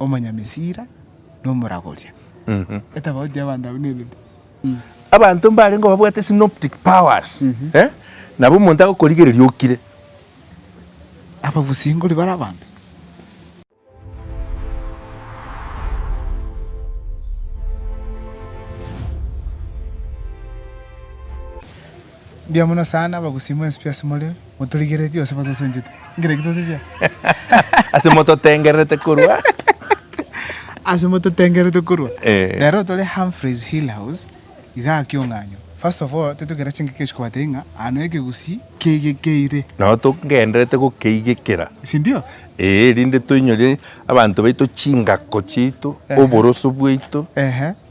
omonyamesira, na omoragoria. Etafauti y'abanto abwo nere ki? Abanto mbarengeo babwate synoptic powers, nabo omonto agokorigereria okire. Ababusingori bare abanto. Mbuya mono sana abagusii mwensi pi ase more motorigeretie gose motosunchete ngerekio tose buya. Ase mototengererete korwa. Ase mototengererete korwa. Eh. Rero tore Humphreys Hill House iga aa kiong'anyo. First of all tetoigera chingaki echio kobatebia ng'a aa no ekegusii keigekeire. Nao togendererete gokeigekera. Sindio? Ee, rinde toinyore abanto baito chingako chiaito, Ehe. oboroso bwaito. Ehe.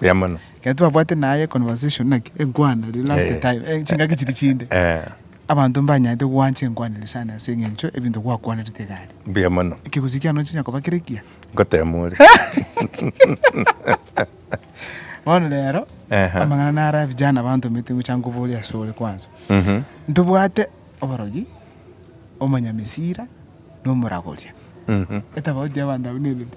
Buya mono. Ekero twabwate naye conversation naki enkwana riria last Eh. time, eh, chingaki chiria chinde. Eh, Abanto mbanyarete gwancha enkwanero sana ase eng'encho ebinto gwakwanerete iga aria. Buya mono. Ekegusii kiane onchinya koba kere ekiya. Ngotema ore. Bono rero, Ehe. amang'ana naro abijana bantomete ngocha nkoborie ase ore kwanza. Mhm. Ntobwate oborogi, omonyamesira, na omoragoria. Mhm. Etafauti y'abanto abwo nerende.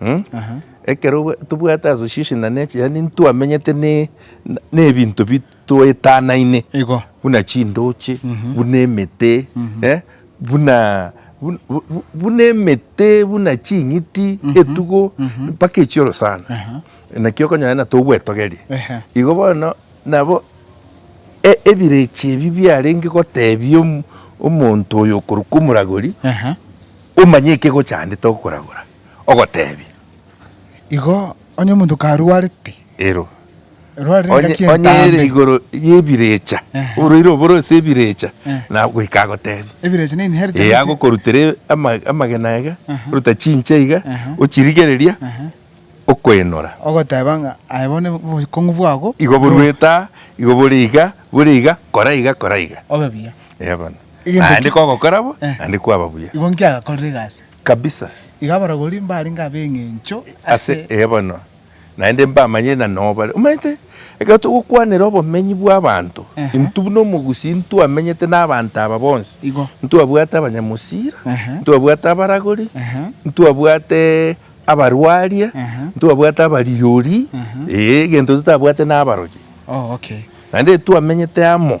Mh, ekero tobwate association na nature, yaani ntwamenyete ne- ne ebinto bi twaetanaine, Igo. buna chindoche, buna emete, eh, buna bu- bu- bu- buna emete, buna ching'iti, etugo, mpaka echioro sana. Naki okonyora buna togwetogeria. Ehe. Igo bono nabo e- ebirecha ebi biarenge gotebia om- omonto oyo okorokwa omoragori, Ehe. omanye ekegochandete okoragora. ogoteebia. Igo onye omonto karwarete. Ero. Erwarire Onye, engaki onye ere entambe. igoro y'ebirecha, Ehe. oboreire oboro ase ebirecha, Eh. na goika agoteebia. Ebirecha na inheritance. Ee, agokorutera e- ama- amagena iga, oruta chinche iga, Aha. ochirigereria, Aha. okoenora. Ogoteba ng'a aye bono obokong'u bwabo. Igo borue taa, igo bore iga, bore iga, kora iga, kora iga. Obe buya. Ee bono. Egento Naende ki- kogokora bo, Eh. naende kwaba buya. Igo inki agakorire egasi? Kabisa. Iga abarogori mbarenge ab'engencho ase. Ase ee bono, naende mbamanyire na nobare. Omanyete, ekero togokwanera obomenyi bw'abanto, Ehe. intwe buna omogusii ntwamenyete n'abanto aba bonsi. Igo. Ntwabwate abanyamosira, Ehe. ntwabwate abaragori, Ehe. ntwabwate abarwaria, Ehe. ntwabwate abariori, Ehe. ee, egento totabwate n'abaroche. Oh, okay. Naende twamenyete amo.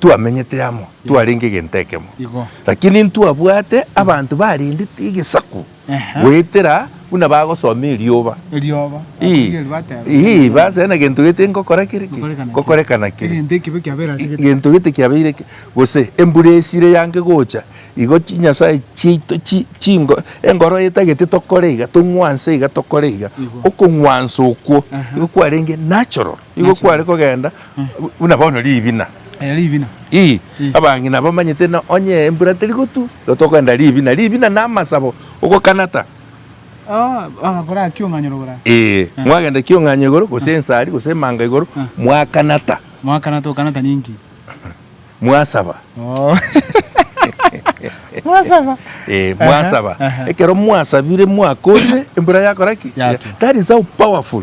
twamenyete amo, twarenge egento ekemo. Igo. Lakini ntwabwate abanto barendete egesaku Ehe. goetera buna bagosoma erioba. Erioba. Ii, Ababeli bateba. ii, base na gento gete ngokora kere ki? Ngokorekana ki? Ngokorekana kere. Egento ekibe kiabeire ase gete. gento gete kiabeire ki? gose embura esire yange gocha igo chinyasae chiaito chi- chingo engoro etagete tokore iga tong'wanse iga tokore iga Igo. okong'wansa okwo Aha. igo kwarenge natural Nigo Nachi kware kogenda bu- buna bono ribina. eh, ribina. Ii, Ii. abang'ina bamanyete ng'a onye embura teri gotwa, igo tokogenda ribina. Ribina na amasabo, ogokanata. Ah, bagakora aki ong'anyora igoro aa. Ee, mwagenda kiong'anyo igoro, gose ensari, gose emanga igoro, Ah. mwakanata, Mwakanata okanata ninki? mwasaba. Oh. Mwasaba. Eh, Aha, mwasaba. aha. Ekero mwasabire, mwakorire, embura yakora ki? Yatwa. That is how powerful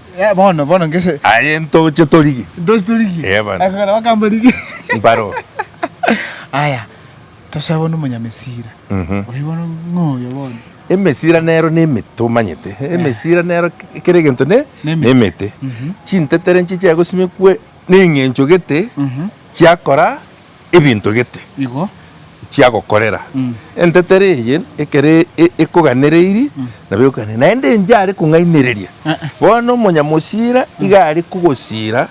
Eh, bono, bono ngese. Aye ntoche torigie. Ntoche torigie. Eh, bono. Akagera bakamba rigie. Mbaro. Aya, tosabe bono omonyamesira. Mhm. Oyo bono ng'oyo bono. Emesira nero nemete omanyete emesira nero kera egento ne Nemete. nemete Mhm. chintetere nchiche gosimekwe neng'encho gete Mhm. chiakora ebinto gete Igo. chiagokorera. Entetera eye ekero e- ekoganereiri, nabo ekoganera. Naende enche are kong'ainereria. Bono omonyamosira iga are kogosira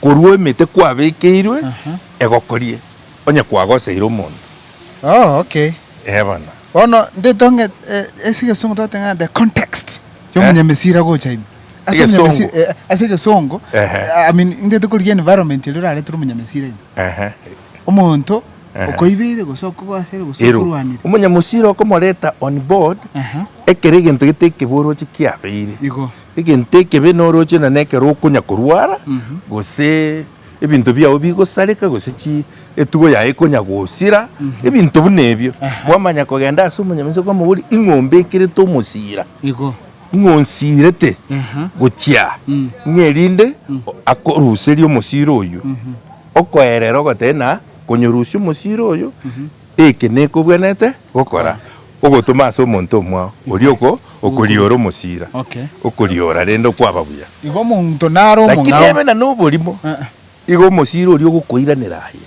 korwa emete kwabekeirwe egokorie, onye kwagoseire omonto. Oh, okay. Ee bono. Bono ndetong'e e- ase egesongo twateng'ana the context ya omonyamesira gocha ime. Ase Egesongo. omonyamesi- eh, ase egesongo, Ehe. I mean, ngetokorigia environment eria orarete ore omonyamesira ime. omonto okoibeire gose okogoasere gose Ero okorwanire. omonyamosiri okomoreta on board, Ehe. ekero egento getekebe oroche kiabeire. Igo. Egento ekebe noroche na nekero okonya korwara gose ebinto biao bigosareka gose chi etugo yaye ekonya gosira ebinto buna ebio. Ehe. Kwamanya kogenda ase omonyamesiri kwamobori ing'ombe ekerete omosira. Igo. Ng'a onsiirete gochia aa, ng'a erinde akoruserie omosiro oyio, okoerera ogoteba na konyorusia omosiro oyio, eke nekobwenerete gokora, ogotoma ase omonto omwao oria okoriora omosira, okoriora rende okwaba buya. Lakini ebe na noborimo, igo omosira oria ogokoiranera aye.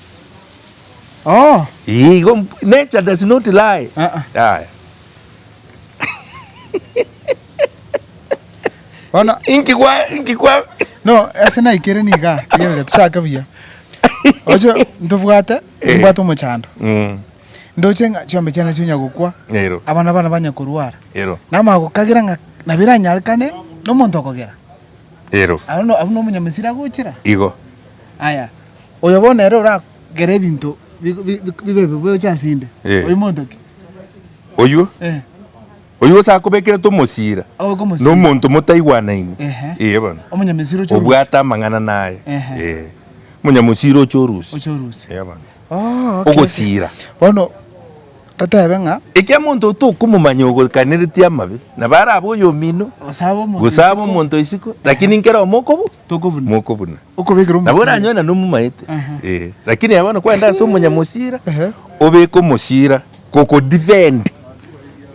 Nature does not lie. Bono Inki kwa inki kwa No, ase naikire niga, rigereria tochake buya. Oche ntobwate, Eh. nimbwate omochando. Mm. Ndoche ng'a chiombe chiane chinya gokwa, Ero. abana bane banya korwara. Ero. Namanya gokagera ng'a nabo eranyarekane nomonto okogera. Ero. Abwo no- abwo nomonyamisiri agochera. Igo. Aya, oyo bono ere ora Kera ebinto bik- bi- bi- bibe bibe gocha ase inde. Eh. Oyio monto ki? Oyio, Eh. oyio gose akobekerete omosira, Agoika na omosira. omonto motaigwanaine. Ehe. Ee bono. Omonyamisiri oche orusi. Obwate amang'ana naye. Ehe. Ee. Monyamosiri oche orusi. Oche orusi. Ee bono. Oh, okay. Ogosira. Bono Toteebe ng'a. Ekiagera omonto oo tokomomanya ogoikaneretie amabe, na bare abe oyomino, gose abe omonto isiko, lakini nkera omo okobu, mokobuna. Okobekera omosibwa. Nabo oranyoe na nomomaete. Ee. Lakini aye bono kwende ase omonyamosira, obeke omosira gokodefend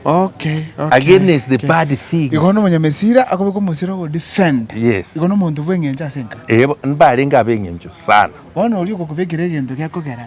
Okay, okay. against the bad things. Igo bono omonyamesira akobeka omosira ogodefend. Yes. Igo nomonto bw'eng'encho ase enka. Ee, mbarenge ab'eng'encho sana. Bono oria ogokobekera egento gekogera.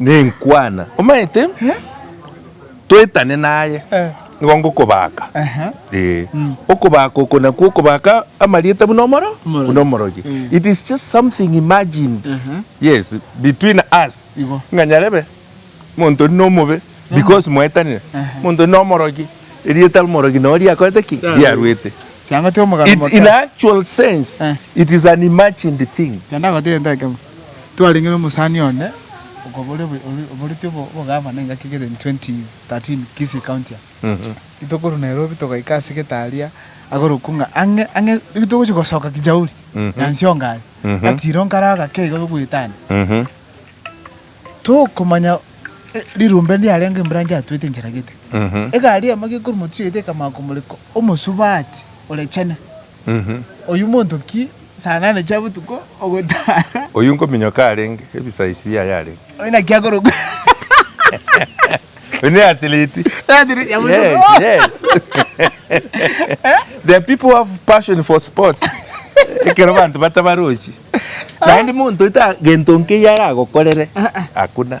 Nenkwana omaete toetane naye, nigo ngokobaka, ee, okobaka oko nakwo okobaka amarieta buna omoro, buna omorogi. It is just something imagined, yes, between us, ng'a nyarebe omonto oria nomobe because mwaetanire, omonto oria nomorogi, erieta omorogi noro riakorete ki? Riaruete. It in actual sense, it is an imagined thing. Twarenge nomosani onde okobore oboreti obogavana engaki kere in 2013 Kisii County aa. Ritokorwa Nairobi togaika ase getaria agorokwa ng'a ang'e ang'e ritogochia gosoka Kijauri Nyansi Ongare gatiro nkare agake iga togwetana tokomanya rirumbe ndiarenge embranch yatwete enchera gete. Egari emo gekorwa motiyo yaito ekamanya komoreka omosubati ore chene. Oyio monto ki? Saa nane chia botuko ogotara. Oyio nkominyoka arenge, ebisaisi biaye arenge. Oyio naki akorokwa. Oyio ne athlete. Athlete ya botuko. Yes, yes. There are people who have passion for sports. Ekero banto batabarochi. Naende monto eta gento nkeiyo aragokorere. Hakuna.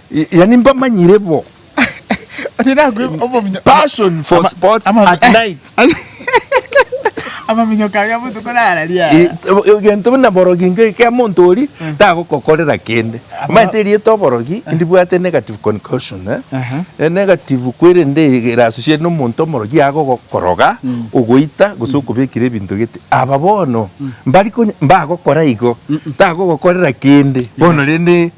Yaani mbamanyire bo. Onye nakwe obominyo- Passion for Ama- sports ama- at eh. night. Amaminyoka aria botuko nararia. Eh, egento buna borogi nka ekea monto ori tagokokorera kende omanyete erieta oborogi ndibwate negative concussion eh? Aha. Eh, negative kwerende ere associated nomonto omorogi agogokoroga ogoita gose okobekire ebinto gete aba bono mbari konya- mbagokora igo tagogokorera kende bono rende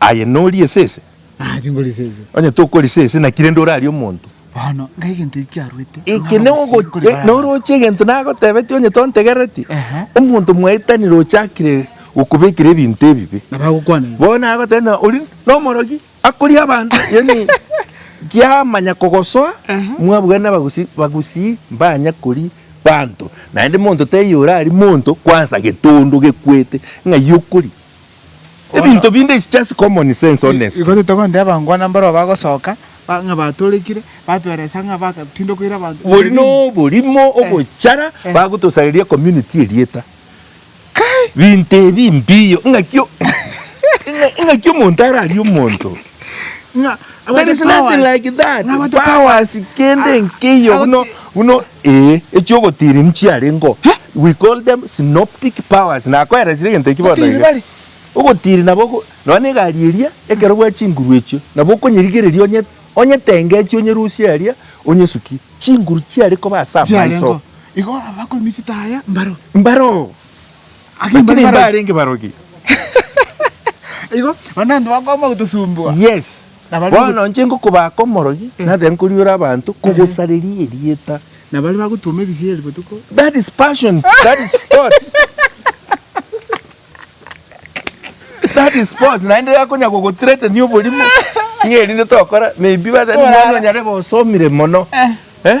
Aye nori esese? Aa, tingori esese. Onye tokori esese, naki rende orarie omonto? Bono, ngai egento eki kiaruete, Eke ng'ara ne omosinto ogo- kore e, bare abana. noroche egento nagotebetie onye tontegereti? Ehe. Omonto mwaetanire ochakire gokobekera ebinto ebibe. Na bagokwana igo. Bono nagoteba na ori nomorogi akoria abanto yaani kiamanya kogosoa mwabugana nabagusi bagusii mbanya kori banto naende monto taiyo orari monto kwansa getondo gekwete ng'ai okori Ebinto binde is just common sense honestly. Igo titogoteeba ngwa nambaro abagosoka ba ng'a batoorekire, batweresa ng'a bagatinda koira abanto Bori ebibe binde. noborimo ogochara eh. bagotosareria community erieta. Kai! Binto ebi mbiyo ng'aki o ng'a ng'aki omonto ararie omonto. Ng'a There is nothing like that. Powers kende nkeiyo buna buna ee echi'ogotiri nchiarengeo. We call them synoptic powers. Nakoeresire egento ekio bono Ogotiri iga. bare. Ogotiri nabo oko nonya na egari eria ekero bwa chinguru echio nabo okonyerigereria onye onyetengechi onyerusie aria onyesukie. Chinguru chiare koba ase amaiso. Chiarengeo. Igo abakori michitaya mbaro. Mbaro. Lakini mbarenge barogi. Igo onde abanto bakoama gotosumbua. Yes. Bono inche ngokobaaka omorogi, nathae nkoriora abanto kogosareria erieta. Na baria bagotuoma ebisieri botuko. That is passion. That is sports. That is sports. Naende akonya gogothreatenia oborimo ng'a erinde tokora, maybe batebie, Mwana onyare bosomire mono. Eh?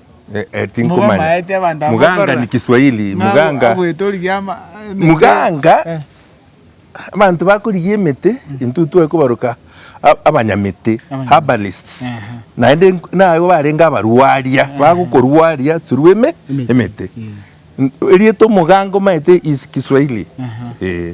Eh, eh, tinkomanya. Mugamaete abanto aba Muganga bakorora. ni Kiswahili. Ng'a Muganga. agwete origia ama- emete. Muganga. Eh. Abanto bakorigia emete intwe twekobaroka a- abanyamete, Abanyamete. herbalists. Ehe. Naende nk- nabo barenge abarwaria, bagokorwaria through eme- Emete. emete. N- Erieta omoganga omaete is Kiswahili. Eh.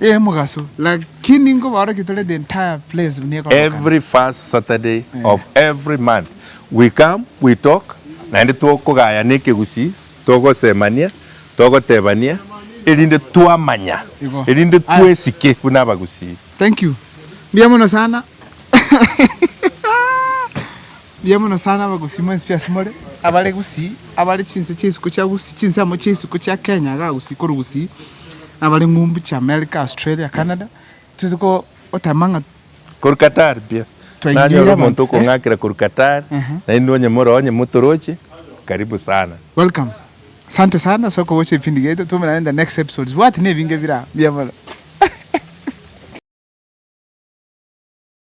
Y'omogaso, lakini nkobaorokia tore the entire place buna ekorokana. Every first Saturday of every month we come we talk naende tokogaya nekegusii togosemania togotebania erinde twamanya Igo. erinde Aya. twesike buna abagusii. Thank you. Mbuya mono sana. Mbuya mono sana abagusii mwensi pi ase more, abare gusii, abare chinse chia isiko chia gusii, chinse amo chia isiko chia Kenya iga gusii korwa gusii, na abare ng'umbu chia America, Australia, Canada, toigete ko- gotema ng'a Korwa Qatar pi ase. Twainyeire Nanyora abanto, omonto eh? okong'akera korwa Qatar, Ehe. nainwe onye more onye motoroche, karibu sana. Welcome. Asante sana ase okogocha ebipindi biaito, twaumerane in the next episodes. Bwati na ebinge bire aa, mbuya mono.